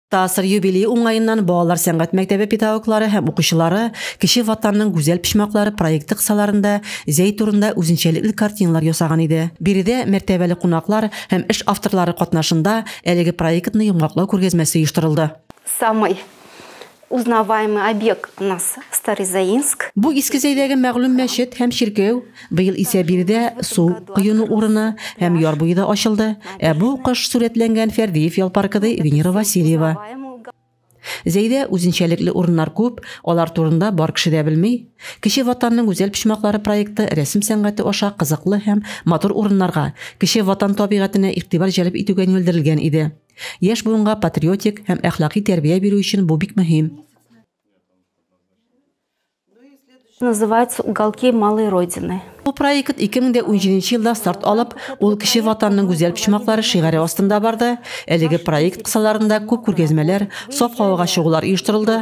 Тасыр юбилей уңаеннан балалар сәнгать мәктәбе педагоглары һәм укучылары Кече Ватанның гүзәл почмаклары проекты кысаларында зәй турында үзенчәлекле картиналар ясаган иде. Биредә мәртәбәле кунаклар һәм эш авторлары катнашында әлеге проектны йомгаклау күргәзмәсе оештырылды. Самый узнаваемый объект у нас Старый Заинск. Бу Иске Зәйдәге мәгълүм мәчет һәм чиркәү. Быел исә биредә су коену урыны һәм яр буе да ачылды, ә бу кыш сурәтләнгән Фәрдиев ял паркы, ди Венера Васильева. Зәйдә үзенчәлекле урыннар күп, алар турында бар кеше дә белми. Кече Ватанның гүзәл почмаклары проекты рәсем сәнгате аша кызыклы һәм матур урыннарга, Кече Ватан табигатенә игътибар җәлеп итүгә юнәлдерелгән иде. Яшь буынга патриотик һәм әхлакый тәрбия бирү өчен бу бик мөһим. называется уголки малой родины Бу проект 2017 елда старт алып, ул кеше ватанның гүзәл почмаклары шигаре астында барды. Әлеге проект кысаларында күп күргәзмәләр, саф һавага чыгулар оештырылды.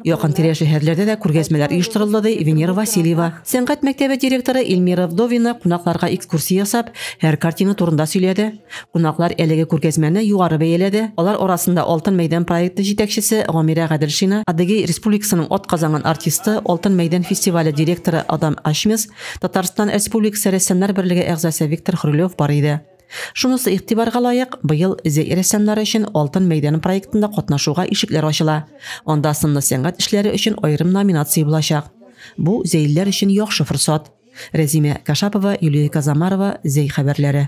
Якын тирә шәһәрләрдә дә күргәзмәләр оештырылды, ди Венера Васильева. Сәнгать мәктәбе директоры Эльмира Вдовина кунакларга экскурсия ясап, һәр картина турында сөйләде. Кунаклар әлеге күргәзмәне югары бәяләде, алар арасында Алтын мәйдан проекты җитәкчесе Гамирә Гаделшина, Адыгей Республикасының атказанган артисты, Алтын мәйдан фестивале директоры Адам Ачмес, Татарстан Республикасы рәссамнар берлеге әгъзасы Виктор Хрулев бар иде. Шунысы игътибарга лаек, быел зәй рәссамнары өчен Алтын мәйдан проектында катнашуга ишекләр ачыла. Анда сынлы сәнгать эшләре өчен аерым номинация булачак. Бу, зәйлеләр өчен яхшы форсат. Рәзимә Кашапова, Юлия Казамарова, Зәй хәбәрләре.